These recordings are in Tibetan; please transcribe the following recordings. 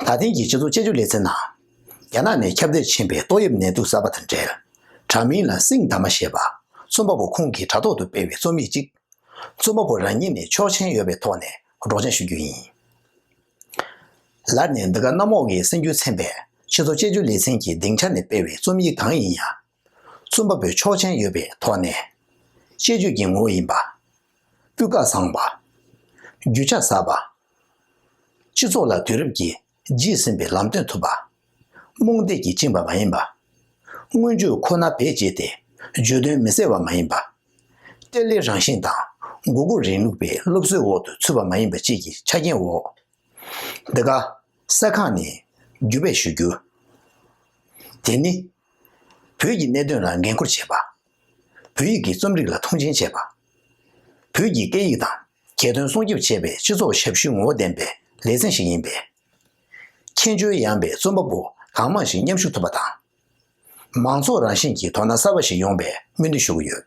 ད་ཐེངས་ཀྱི་སྤྱི་ཚོགས་དཔྱད་བརྗོད་ལེ་ཚན་ནང། རྒྱ་ནག་ནས་ཁྱབ་གདལ་ཕྱིན་པའི་ཏོག་དབྱིབས་ནད་དུག་གསར་པ་དང་འབྲེལ། དྲ་མིང་ལ་སིང་དཱ་མ་ཞེས་པ། རྩོམ་པ་པོ་ཁོང་གིས་དྲ་ཐོག་ཏུ་སྤེལ་བའི་རྩོམ་ཡིག་ཅིག། རྩོམ་པ་པོ་རང་ཉིད་ནས་ཆོག་མཆན་ཡོད་པའི་ཐོག་ནས་སྒྲོག་སྦྱངས་ཞུ་རྒྱུ་ཡིན། ལར་ནས་འདི་ག་གནམ་འོག་གི་སེམས་རྒྱུད་ཚན་པས་སྤྱི་ཚོགས་དཔྱད་བརྗོད་ལེ་ཚན་གྱི་སྡིངས་ཆ་ནས་སྤེལ་བའི་རྩོམ་ཡིག་གང་ཡིན་ཡང། རྩོམ་པ་པོའི་ཆོག་མཆན་ཡོད་པའི་ཐོག་ནས། དཔྱད་བརྗོད་ཀྱི་ངོ་བོ་ཡིན་པ། སྤུས་ཀ་བཟང་བ། རྒྱུ་ཆ་ཟབ་པ། སྤྱི་ཚོགས་ལ་དུས་རབས་ཀྱིས་བརྗེད་ཟིན་པའི་ལམ་སྟོན་ཐུབ་པ། རྨོངས་དད་ཀྱིས་བཅིངས་པ་མ་ཡིན་པ། མངོན་བརྗོད་ཁོ་ན་བེད་སྤྱད་དེ་བརྗོད་དོན་མི་གསལ་བ་མ་ཡིན་པ། གཏེར་ལས་རང་བཞིན་དང་མགོ་སྒུར་རིང་ལུགས་པའི་སློབ་གསོའི་འོག་ཏུ་ཚུད་པ་མ་ཡིན་པ་བཅས་ཀྱི་ཆ་རྐྱེན་འོག་འདི་ག་གསལ་ཁང་ནས་བརྒྱུད་སྤེལ་ཞུ་རྒྱུ། དེ་ནི། བོད་ཀྱི་གནད་དོན་ལ་འགན་ཁུར་བྱེད་པ། བོད་ཡིག་གི་རྩོམ་རིག་ལ་མཐོང་ཆེན་བྱེད་པ། བོད་ཀྱི་སྐད་ཡིག་དང་གྱ་སྟོན་སྲུང་སྐྱོབ་བྱེད་པའི་སྤྱི་ཚོགས་ཞབས་ཞུའི་ངོ་བོ་ལྡན་པའི་ལེ་ཚན་ཞིག་ཡིན་པས། མཁྱེན་དཔྱོད་ཡངས་པའི་རྩོམ་པ་པོ་གང་མང་ཞིག་མཉམ་ཞུགས་ཐུབ་པ་དང། མང་ཚོགས་རང་བཞིན་གྱི་དོ་སྣང་གསར་པ་ཞིག་ཡོང་པའི་སྨོན་འདུན་ཞུ་གི་ཡོད།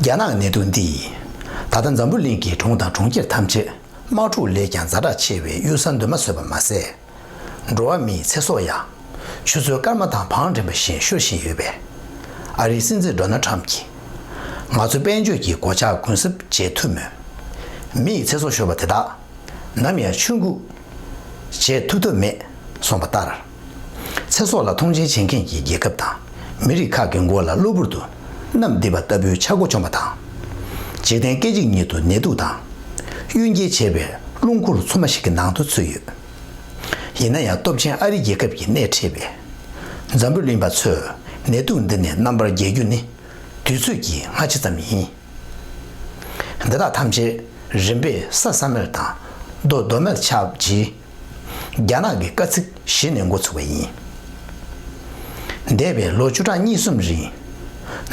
རྒྱ་ནག་ནད་དུག་འདིས་ད་ལྟ་འཛམ་བུ་གླིང་གི་གྲོང་དང་གྲོང་ཁྱེར་ཐམས་ཅད་དམག་འཁྲུག་ལས་ཀྱང་རྫ་དྲག་ཆེ་བའི་གཡུལ་ས་འདོན་མ་བཟོད་པ་མ་ཟད། འགྲོ་བ་མིའི་ཚེ་སྲོག་ཡང་ཆུ་ཚོད་སྐར་མ་དང་བང་རིམ་པ་བཞིན་ཤོར་བཞིན་ཡོད་པས། ཨ་རིའི་སྲིད་འཛིན Donald Trump གྱིས། ང་ཚོ་དཔལ་འབྱོར་གྱི་སྒོ་ལྕགས་གུན་གསབ་བྱེད་ཐུབ་མོད། མིའི་ཚེ་སྲོག་ཤོར་བ་དེ་དག་ནམ་ཡང་ཆུ་འགུགས་བྱེད་ཐུབ་ཐབས་མེད་གསུངས་པ་ལྟར། ཚེ་སྲོག་ལ་མཐོང་ཆེན་བྱེད་མཁན་གྱི་རྒྱལ་ཁབ་དང་མི་རིགས་ཁག་གི་མགོ་ལ་གློ་བུར་དུ་གནམ་བདེ་བ་ལྟ་བུའི་ཆག་སྒོ་བཅོམ་པ་དང། འཇིག་རྟེན་སྐད་ཅིག་ཉིད་དུ་ནད་དུག་དང། གཡུལ་འགྱེད་བྱེད་པའི་རླུང་འཁོར་ཚུབ་མ་ཞིག་གི་ནང་དུ་ཚུད་ཡོད། ཡིན་ན་ཡང་སྟོབས་ཆེན་ཨ་རི་རྒྱལ་ཁབ་ཀྱིས་སྣེ་ཁྲིད་པའི་འཛམ་བུ་གླིང་པ་ཚོས་ནད་དུག་འདི་ནས་རྣམ་པར་རྒྱལ་རྒྱུ་ནི་དུས་ཚོད་ཀྱི་སྔ་ཕྱི་ཙམ་ཡིན། འདི་དག་ཐམས་ཅད་རིམ་པས་ས་ས་མེར་དང་རྡོ་རྡོ་མེར་ཆགས་རྗེས། རྒྱ་ནག་གི་བཀའ་ཚིག་གཞི་ནས་འགོ་ཚུགས་པ་ཡིན། འདས་པའི་ལོ་བཅུ་གྲངས་གཉིས་གསུམ་རིང།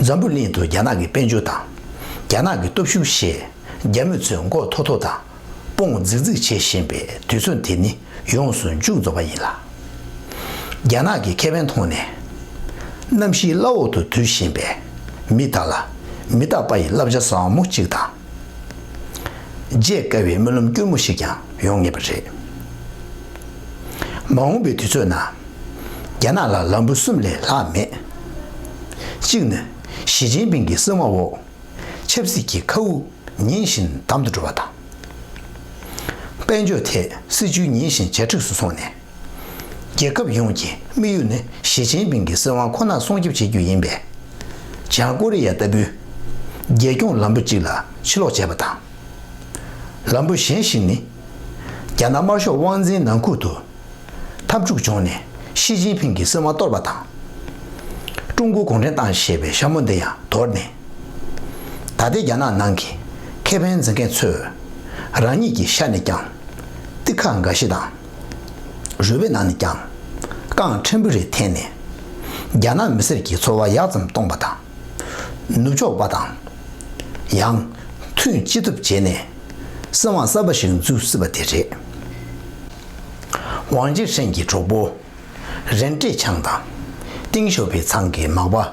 འཛམ་བུ་གླིང་དུ་རྒྱ་ནག་གི་དཔལ་འབྱོར་དང། རྒྱ་ནག་གི་སྟོབས་ཤུགས་ཞེས་རྒྱ་མི་ཚོས་མགོ་མཐོ་མཐོ་དང་དཔུང་བརྫིག་བརྫིག་བྱེད་བཞིན་པའི་དུས་ཚོད་དེ་ནི་ཡོངས་སུ་མཇུག་རྫོགས་པ་ཡིན་ལ། རྒྱ་ནག་གི་ཁེ་ཕན་མཐོང་ནས། གནམ་གཤིས་བླ་འོག་ཏུ་དུད་བཞིན་པའི་མི་དག་ལ་མི་རྟག་པ་ཡི་བསླབ་བྱ་ཟབ་མོ་གཅིག་དང། བརྗེད་དཀའ་བའི་སྨོན་ལམ་སྐྱུར་མོ་ཞིག་ཀྱང་ཡོང་ངེས་པ་རེད། མ་འོངས་པའི་དུས་ཚོད་ནང་རྒྱ་ནག་ལ་ལམ་བུ་གསུམ་ལས་ལྷག་མེད། གཅིག་ནི་ཞི་ཅིན་ཕིང་གི་གསང་བ་འོག་ཆབ་སྲིད་ཀྱི་མཁའ་དབུགས་ཉིན་བཞིན་འདམ་དུ་འགྲོ་བ་དང། དཔལ་འབྱོར་ཐད་སྲིད་ཇུས་ཉིན་བཞིན་ཇེ་མཁྲེགས་སུ་སོང་ནས། རྒྱལ་ཁབ་ཡོངས་ཀྱི་དམིགས་ཡུལ་ནི་ཞི་ཅིན་ཕིང་གི་སྲིད་དབང་ཁོ་ན་སྲུང་སྐྱོབ་བྱེད་རྒྱུ་ཡིན་པས། བྱང་ཀོ་རེ་ཡ་ལྟ་བུའི་རྒྱལ་སྐྱོང་ལམ་བུ་གཅིག་ལ་ཕྱི་ལོག་བྱས་པ་དང། ལམ་བུ་གཞན་ཞིག་ནི། རྒྱ་ནག་དམར་ཤོག་དབང་འཛིན་ནང་ཁུལ་དུ། འཐབ་འཁྲུག་བྱུང་ནས་ཤི་ཅིན་ཕིང་གིས་སྲིད་དབང་གཏོར་བ་དང། ཀྲུང་གོ་གུང་ཁྲན་ཏང་ཞེས་པའི་ཞྭ་མོ་འདི་ཡང་དོར་ནས། ད་ལྟའི་རྒྱ་ནག་ནང་གི་ཁེ་ཕན་འཛིན་མཁན་ཚོས་རང་ཉིད་ཀྱི་ཤ་ནས་ཀྱང། ཏི་ཁ་འགའ་ཞིག་དང། རུས་པའི་ནང་ནས་ཀྱང། རྐང་ཕྲན་བུ་རེ་འཐེན་ནས། རྒྱ་ནག་མི་སེར་གྱི་འཚོ་བ་ཡག་ཙམ་གཏོང་པ་དང། ནུབ་ཕྱོགས་པ་དང། ཡང། མཐུན་ཅི་ཐུབ་བྱས་ནས། སྲིད་དབང་གསར་པ་ཞིག་འཛུགས་སྲིད་པ་དེ་རེད། ཝང་ཅེ་ཧྲེང་གི་གྲོགས་པོ། རེན་ཀྲེ་ཆང་དང། ཏིང་ཞོ་པི་ཚང་གི་མག་པ།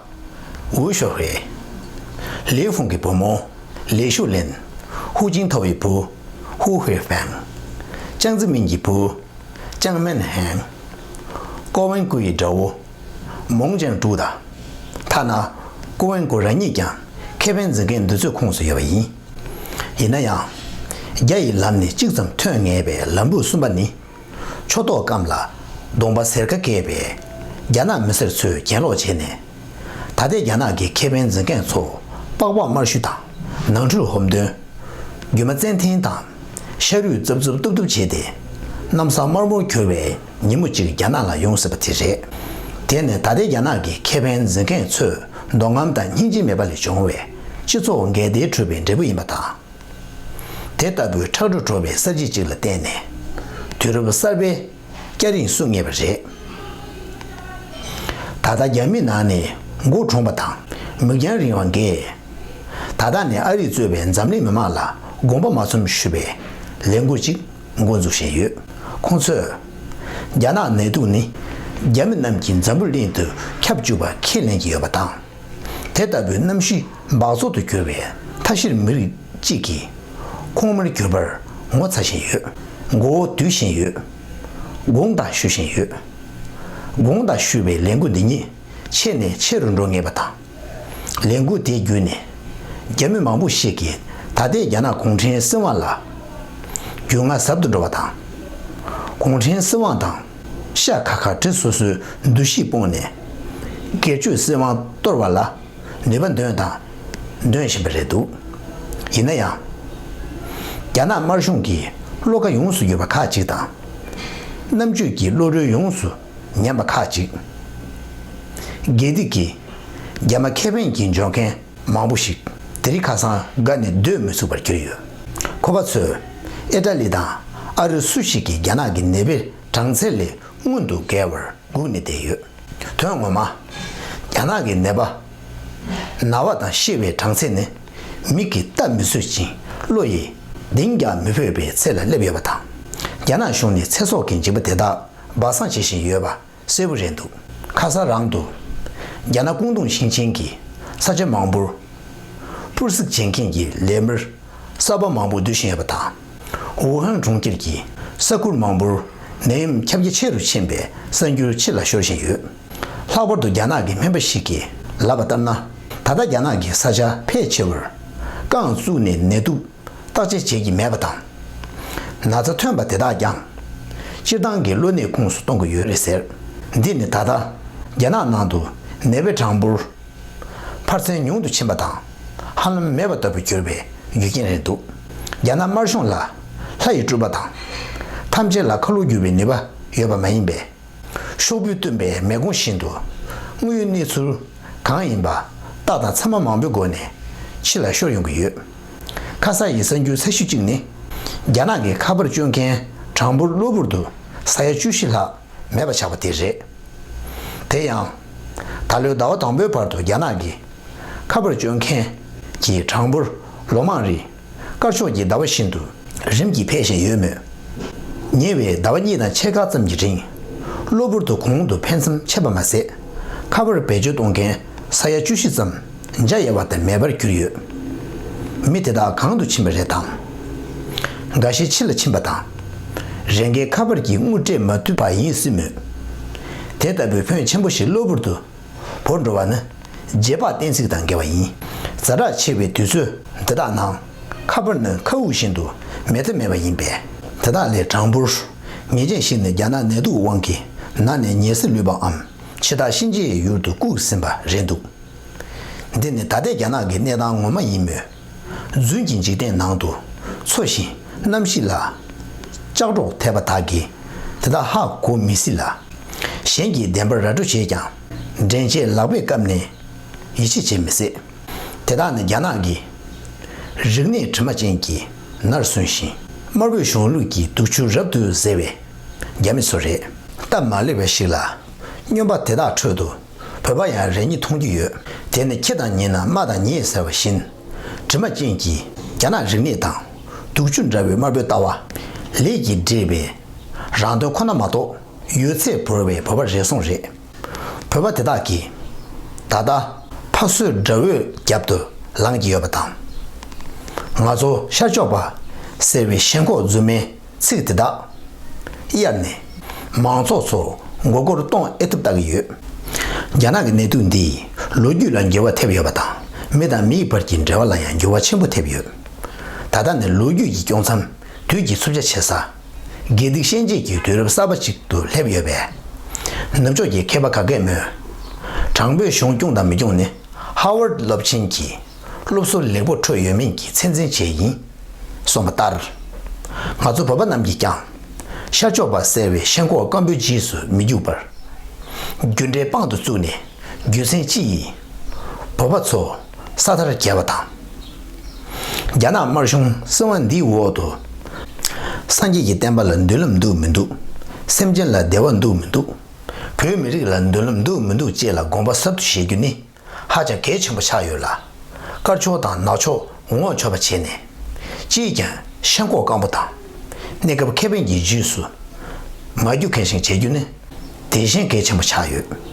ཝུའུ་ཞོ་ཧུའེ། ལི་ཧྥུང་གི་བུ་མོ། ལི་ཞུ་ལེན། ཧུའུ་ཅིང་ཐའོ་ཡི་བུ། ཧུའུ་ཧུའེ་ཧྥེང། ཅང་ཙི་མིན་གྱི་བུ། ཅང་མེན་ཧན། ཀོ་ཝེན་ཀུའུ་ཡི་དགྲ་བོ། མོང་ཅན་དྲུག་དང། ཐ་ན་ཀུ་ཝན་ཀུ་ར་གཉིས་ཀྱང་ཁེ་ཕན་འཛིན་མཁན་འདི་ཚོའི་ཁོངས་སུ་ཡོད་པ་ཡིན། ཡིན་ན་ཡང། རྒྱ་ཡི་ལམ་ནས་གཅིག་ཙམ་ཐོན་ངེས་པའི་ལམ་བུ་གསུམ་པ་ནི། ཕྱོགས་གཏོགས་སྐམ་ལ་གདོང་པ་ཟེར་ཁ་སྐད་པའི་རྒྱ་ནག་མི་སེར་ཚོས་གྱེན་ལོག་བྱས་ནས། ད་ལྟའི་རྒྱ་ནག་གི་ཁེ་ཕན་འཛིན་མཁན་ཚོ་པགས་པགས་དམར་ཤུལ་དང་ནང་ཁྲོལ་ཧོམ་འདོན། རྒྱུ་མ་བཙན་འཐེན་དང་ཤ་རུས་རྩུབ་རྩུབ་སྟུབ་སྟུབ་བྱས་ཏེ། གནམ་ས་དམར་མོར་གྱུར་བའི་ཉིན་མོ་གཅིག་རྒྱ་ནག་ལ་ཡོང་སྲིད་པ་དེ་རེད། དེ་ནི་ད་ལྟའི་རྒྱ་ནག་གི་ཁེ་ཕན་འཛིན་མཁན་ཚོས་མདོ་ཁམས་དང་སྙིང་རྗེ་མེད་པ་ལས་བྱུང་བའི་སྤྱི་ཚོགས་འགལ་ཟླའི་འཁྲུལ་བའི་འབྲས་བུ་ཡིན་པ་དང། དེ་ལྟ་བུའི་ཁྲག་དྲུག་བྲོ་བའི་གསར་བརྗེ་གཅིག་ལ་བརྟེན་ནས། དུས་རབས་གསར་པའི་སྐྱ་རེངས་བསུ་ངེས་པ་རེད། ད་ལྟ་རྒྱ་མི་ནང་ནས་མགོ་གྲུངས་པ་དང་མིག་རྒྱང་རིང་བ་འགས། ད་ལྟ་ནས་ཨ་རིས་གཙོས་པའི་འཛམ་གླིང་མི་མང་ལ་དགོངས་པ་མ་ཚོམས་ཞུ་བའི་ལས་འགུལ་ཅིག་འགོ་འཛུགས་བཞིན་ཡོད། ཁོང་ཚོས། རྒྱ་ནག་ནད་དུག་ནི་རྒྱ་མི་རྣམས་ཀྱིས་འཛམ་བུ་གླིང་དུ་ཁྱབ་འཇུག་པ་ཁས་ལེན་གྱི་ཡོད་པ་དང། དེ་ལྟ་བུའི་གནམ་གཤིས་འབག་བཙོག་ཏུ་གྱུར་བའི་མཐའ་བཞིར་མི་རིགས་གཅིག་གིས་ཁོང་མོར་གྱུར་པར་ངོ་ཚ་བཞིན་ཡོད། མགོ་བོ་དུད་བཞིན་ཡོད། དགུང་དག་ཞུ་བཞིན་ཡོད། དགུང་དག་ཞུ་བའི་ལས་འགུལ་འདི་ཉིད་ཆེ་ནས་ཆེ་རུ་འགྲོ་ངེས་པ་དང། ལས་འགུལ་དེ་བརྒྱུད་ནས་རྒྱ་མི་མང་པོ་ཞིག་གིས་ད་ལྟའི་རྒྱ་ནག་གུང་ཁྲན་སྲིད་དབང་ལ་རྒྱུས་མངའ་ཟབ་ཏུ་འགྲོ་བ་དང། གུང་ཁྲན་སྲིད་དབང་དང་ཤ་ཁ་ཁ་བྲལ་སོ་སོའི་འདུ་ཤེས་སྤུངས་ནས་སྒེར་གཅོད་སྲིད་དབང་གཏོར་བ་ལ་ནུས་པ་འདོན་དང་འདོན་བཞིན་པ་རེད་འདུག་ཡིན་ན་ཡང། རྒྱ་ནག་དམར་གཞུང་གིས་བློ་ཁ་ཡོངས་སུ་བསྒྱུར་བ་ཁག་ཅིག་དང། རྣམ་དཔྱོད་ཀྱི་བློ་གྲོས་ཡོངས་སུ་ཉམས་པ་ཁག་ཅིག་དགེ་སྡིག་གིས་རྒྱ་མ་ཁེ་བན་གྱི་འཇོན་མཁན་མང་པོ་ཞིག་དེ་རིང་ཁ་སང་དགའ་ནས་སྡོད་མི་ཚུགས་པར་གྱུར་ཡོད། ཁོ་པ་ཚོས་ཨེ་ཏྲ་ལི་དང་ཨ་རི་སུ་ཞིག་གིས་རྒྱ་ནག་གི་ནད་པའི་གྲངས་ཚད་ལས་སྔོན་དུ་བརྒལ་བར་སྒུག་ནས་བསྡད་ཡོད། དོན་ངོ་མ། རྒྱ་ནག་གི་ནད་པ། ན་བ་དང་ཤི་བའི་གྲངས་ཚད་ནི་མིག་གིས་ལྟ་མི་བཟོད་ཅིང་བློ་ཡིས་གདེང་རྒྱག་མི་ཕོད་པའི་ཚད་ལ་སླེབས་ཡོད་པ་དང། རྒྱ་ནག་གཞུང་ནས་ཚེ་སྲོག་གི་འཇིགས་པ་དེ་དག་སྦ་གསང་བྱེད་བཞིན་ཡོད་པ་གསལ་བོ་རེད་འདུག་ཁ་སང་རང་དུ། རྒྱ་ནག་ཀོང་ཏུང་ཞིང་ཆེན་གྱི་ས་ཆ་མང་པོར། པུར་གཟིགས་བྱེད་མཁན་གྱི་ལས་མིར་གསར་པ་མང་པོ་བསྡུ་བཞིན་ཡོད་པ་དང། ཝུའུ་ཧན་གྲོང་ཁྱེར་གྱི་ས་ཁུལ་མང་པོར་ནད་ཡམས་ཁྱབ་རྒྱ་ཆེ་རུ་ཕྱིན་པའི་གསར་འགྱུར་ཕྱི་ལ་ཤོར་བཞིན་ཡོད། ལྷག་པར་དུ་རྒྱ་ནག་གི་སྨན་པ་ཞིག་གིས་ལབ་པ་ལྟར་ན། ད་ལྟ་རྒྱ་ནག་གི་ས་ཆ་ཕལ་ཆེ་བར་རྐང་བཙུགས་ནས་ནད་དུག་བརྟག་དཔྱད་བྱེད་ཀྱི་མེད་པ་དང། ན་ཚ་ཐོན་པ་དེ་དག་ཀྱང་སྤྱིར་བཏང་གི་གློ་ནད་ཁུངས་སུ་གཏོང་གི་ཡོད་རེད་ཟེར། འདི་ནི་ད་ལྟ་རྒྱ་ནག་ནང་དུ་ནད་པའི་གྲངས་འབོར་འཕར་ཚད་ཉུང་དུ་ཕྱིན་པ་དང་ཧ་ལམ་མེད་པ་ལྟ་བུ་གྱུར་པའི་རྒྱུ་རྐྱེན་རེད་འདུག་རྒྱ་ནག་དམར་གཞུང་ལ་ལྷ་ཡི་སྤྲུལ་པ་དང། ཐམས་ཅད་ལ་ཁ་ལོ་སྒྱུར་བའི་ནུས་པ་ཡོད་པ་མ་ཡིན་པས། ཤོག་བུས་བཏུམས་པའི་མེ་སྒོང་བཞིན་དུ་དངོས་ཡོད་གནས་ཚུལ་གང་ཡིན་པ་རྟགས་དང་མཚན་མ་མང་པོའི་སྒོ་ནས་ཕྱི་ལ་ཤོར་ཡོང་གི་ཡོད། ཁ་ས་ཡི་གསར་འགྱུར་གསལ་ཤོས་གཅིག་ནི། རྒྱ་ནག་གི་ཁ་པར་སྤྱོད་མཁན་གྲངས་འབོར་གློ་བུར་དུ་ས་ཡ་བཅུ་བཞི་ལྷག་མེད་པ་ཆགས་པ་དེ་རེད། དེ་ཡང། ད་ལོའི་ཟླ་བ་དང་པོའི་བར་དུ་རྒྱ་ནག་གི་ཁ་པར་སྤྱོད་མཁན་གྱི་གྲངས་འབོར་ལོ་མང་རིང་དཀར་ཕྱོགས་ཀྱི་ཟླ་བ་བཞིན་དུ་རིམ་གྱིས་འཕེལ་བཞིན་ཡོད་མོད། ཉེ་བའི་ཟླ་བ་གཉིས་དང་ཕྱེད་ཀ་ཙམ་གྱི་རིང་གློ་བུར་དུ་གོང་དུ་འཕེལ་མཚམས་ཆད་པ་མ་ཟད། ཁ་པར་བེད་སྤྱོད་གཏོང་མཁན་ས་ཡ་བཅུ་བཞི་ཙམ་འཇའ་ཡལ་བ་དང་མེད་པར་གྱུར་ཡོད། མི་དེ་དག་གང་དུ་ཕྱིན་པ་རེད་དམ། འགའ་ཤས་ཕྱི་ལ་ཕྱིན་པ་དང། རེ་འགའི་ཁ་པར་གྱིས་དངུལ་སྤྲད་མ་ཐུབ་པ་ཡིན་སྲིད་མོད། དེ་ལྟ་བུའི་ཕོན་ཆེན་པོ་ཞིག་གློ་བུར་དུ་བོར་འགྲོ་བ་ནི་རྗེས་དཔག་གཏན་ཚིགས་དང་འགལ་བ་ཡིན། རྫ་དྲག་ཆེ་བའི་དུས་ཚོད་འདི་དག་ནང་ཁ་པར་ནི་མཁའ་དབུགས་བཞིན་དུ་མེད་ཐབས་མེད་པ་ཡིན་པས། དེ་དག་ལས་གྲངས་འབོར་ངེས་ཅན་ཞིག་ནི་རྒྱ་ནག་ནད་དུག་དབང་གིས་ནར་ནས་ཉེས་སེལ་ལུས་པའམ་ཕྱི་ཐག་གཤིན་རྗེའི་ཡུལ་དུ་བཀུག་ཟིན་པ་རེད་འདུག། འདི་ནི་ད་ལྟའི་རྒྱ་ནག་གི་གནས་སྟངས་ངོ་མ་ཡིན་མོད། རྫུན་གྱི་འཇིག་རྟེན་ནང་དུ་འཚོ་བཞིན་གནམ་གཤིས་ལ་ལྕགས་སྒྲོག་ཐེབས་པ་དག་གིས་དེ་དག་ཧ་གོ་མི་སྲིད་ལ། གཞན་གྱིས་བདེན་པར་ར་སྤྲོད་བྱས་ཀྱང་འདྲེན་བྱེད་ལག་པས་བཀབ་ནས་ཡིད་ཆེས་བྱེད་མི་སྲིད། དེ་དག་ནི་རྒྱ་ནག་གི་རིག་གནས་དྲི་མ་ཅན་གྱི་ནར་སོན་ཞིང་དམར་པོའི་གཞུང་ལུགས་ཀྱི་དུག་ཆུ་རབ་ཏུ་གཟེར་བའི་རྒྱ་མི་ཚོ་རེད། སྟབས་མ་ལེགས་པ་ཞིག་ལ་སྨྱོན་པ་དེ་དག་ཁྲོད་དུ། བོད་པ་ཡང་རེ་གཉིས་མཐོང་རྒྱུ་ཡོད། དེ་ནི་ཁྱེད་དང་ཉེ་ན་རྨ་དང་ཉེ་ཟེར་བ་བཞིན། དྲི་མ་ཅན་གྱི་རྒྱ་ནག་རིག་གནས་དང། དུག་ཆུ་འདྲ་བའི་དམར་པོའི་ལྟ་བ། ལས་ཀྱིས་འདྲེས་པའི། རང་དོན་ཁོ་ན་མ་གཏོགས། ཡོད་ཚད་བོར་བའི་བོད་པ་རེ་ཟུང་རེད། བོད་པ་དེ་དག་གིས། ད་ལྟ། ཕ་བསོད་དགྲ་བོའི་རྒྱབ་ཏུ་ལངས་ཀྱི་ཡོད་པ་དང། ང་ཚོ་ཤར་ཕྱོགས་པ། ཟེར་བའི་ཞེན་ཁོག་རྫུན་མའི། ཚིག་དེ་དག་གཡར་ནས་མང་ཚོགས་ཚོར་མགོ་སྐོར་གཏོང་ཨེ་ཐུབ་བལྟ་གི་ཡོད། རྒྱ་ནག་གི་ནད་དུག་འདིས་ལོ་རྒྱུས་ལ་འགྱུར་བ་ཐེབས་ཡོད་པ་དང་མི་དང་མིའི་བར་གྱི་འབྲེལ་བ་ལ་ཡང་འགྱུར་བ་ཆེན་པོ་ཐེབས་ཡོད། ད་ལྟ་ནི་ལོ་རྒྱུས་ཀྱི་དཀྱོགས་མཚམས་དུས་ཀྱི་འཚུབ་ཆ་ཆེ་ས། དགེ་སྡིག་ཤན་འབྱེད་ཀྱི་དུས་རབས་གསར་པ་ཅིག་ཏུ་སླེབས་ཡོད་པས། ནུབ་ཕྱོགས་ཀྱི་མཁས་པ་ག་གེ་མོས། དྲང་པོའི་གཞུང་སྐྱོང་དང་མི་སྐྱོང་ནི་ཧ་ཝར་སློབ་ཆེན་གྱི་སློབ་གསོ་ལེགས་པོ་འཕྲོད་ཡོད་མིན་གྱི་ཚད་འཛིན་བྱེད་ཡིན་གསུངས་པ་ལྟར། ང་ཚོ་བོད་པ་རྣམས་ཀྱིས་ཀྱང། ཤར་ཕྱོགས་པ་ཟེར་བའི་ཤེས་འཁོར་སྐམ་པོའི་རྗེས་སུ་མི་རྒྱུག་པར། རྒྱུ་འབྲས་དཔང་དུ་བཙུགས་ནས་རྒྱུ་མཚན་ཅི་ཡིན། བོད་པ་ཚོ་ས་མཐར་བསྐྱལ་བ་དང། རྒྱ་ནག་དམར་གཞུང་སྲིད་དབང་འདིའི་འོག་ཏུ། སངས་རྒྱས་ཀྱི་བསྟན་པ་ལ་མདུན་ལམ་འདུག་མི་འདུག་སེམས་ཅན་ལ་བདེ་བ་འདུག་མི་འདུག་བོད་མི་རིགས་ལ་མདུན་ལམ་འདུག་མི་འདུག་བཅས་ལ་དགོངས་པ་ཟབ་ཏུ་བཞེས་རྒྱུ་ནི། ཧ་ཅང་གལ་ཆེན་པོ་ཆགས་ཡོད་ལ། དཀར་ཕྱོགས་དང་ནག་ཕྱོགས་ངོ་ཆོད་པ་བྱས་ནས། ཅིས་ཀྱང་ཤངས་ཁོག་སྐམ་པོ་དང། གནས་སྐབས་ཁེ་ཕན་གྱི་རྗེས་སུ་མ་རྒྱུག་མཁན་ཞིག་བྱེད་རྒྱུ་ནི། དེ་བཞིན་གལ་ཆེན་པོ་ཆགས་ཡོད།